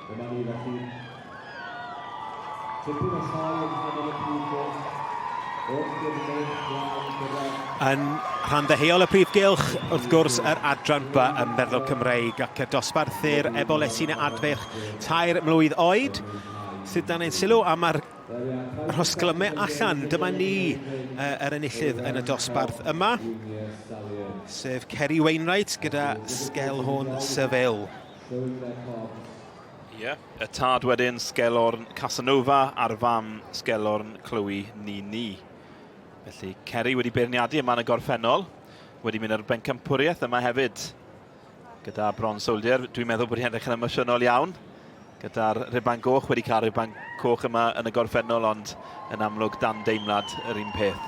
Dyma ni felly. Tipyn o sioe yn hynod y prif gylch. Wrth gyrfydd blaen gyrraedd. Yn rhan ddeheuol y prif gylch, wrth gwrs, yr adran ba ym meddwl Cymreig ac y dosbarthu'r ebol esyn adfeirch tair mlwydd oed. Sydd dan ein sylw am ar Rhosglyme allan, dyma ni uh, yr enillydd yn y dosbarth yma, sef Kerry Wainwright gyda Sgelhorn Seville. Ie, yeah. y tad wedyn Sgelhorn Casanova a'r fam Sgelhorn Chloe Nini. Felly Kerry wedi beirniadu yma yn y gorffennol, wedi mynd ar bencampwriaeth yma hefyd. Gyda Bron Soldier, dwi'n meddwl bod hi'n edrych yn emosiynol iawn. Gyda'r riban goch, wedi cael riban coch yma yn y gorffennol, ond yn amlwg dan deimlad yr un peth.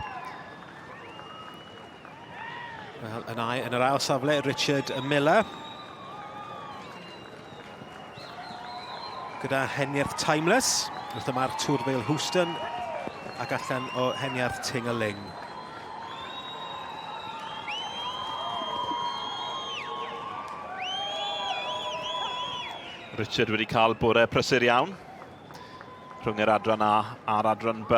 Wel, yn, ai, yn yr ail safle, Richard Miller. Gyda heniarth Timeless, wrth y mae'r Tour Vale Houston ac allan o heniarth Ting a Ling. Richard wedi cael bore prysur iawn rhwng yr adran A a'r adran B.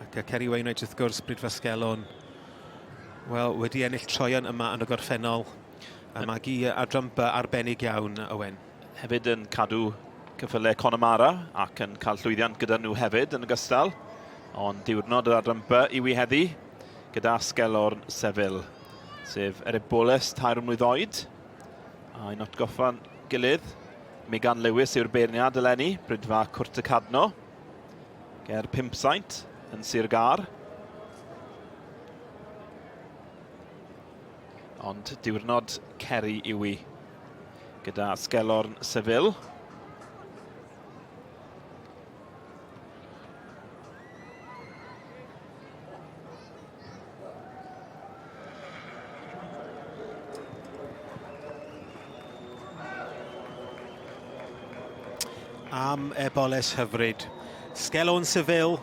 Ac y Ceri Wainwright wrth gwrs, Bryd Fasgelon. Wel, wedi ennill troion yma yn y gorffennol. A mae gi adran by arbennig iawn, Owen. Hefyd yn cadw cyffyle Connemara ac yn cael llwyddiant gyda nhw hefyd yn ogystal. Ond diwrnod yr adran by i wi heddi gyda Asgelorn Seville, sef Erebowles tair mlwydd oed. A'n atgoffa'n gilydd Megan Lewis yw'r beirniad eleni, Brydfa Cwrt y Cadno, ger Pimpsaint yn Sir Gar. Ond diwrnod ceri yw i gyda Sgelorn Seville. am eboles hyfryd. Sgelon Seville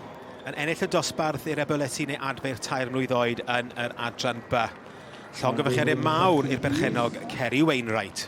yn ennill y dosbarth i'r eboleti neu adfer tair mlwydd oed yn yr adran B. Llongyfychiadau mawr i'r berchenog Ceri Wainwright.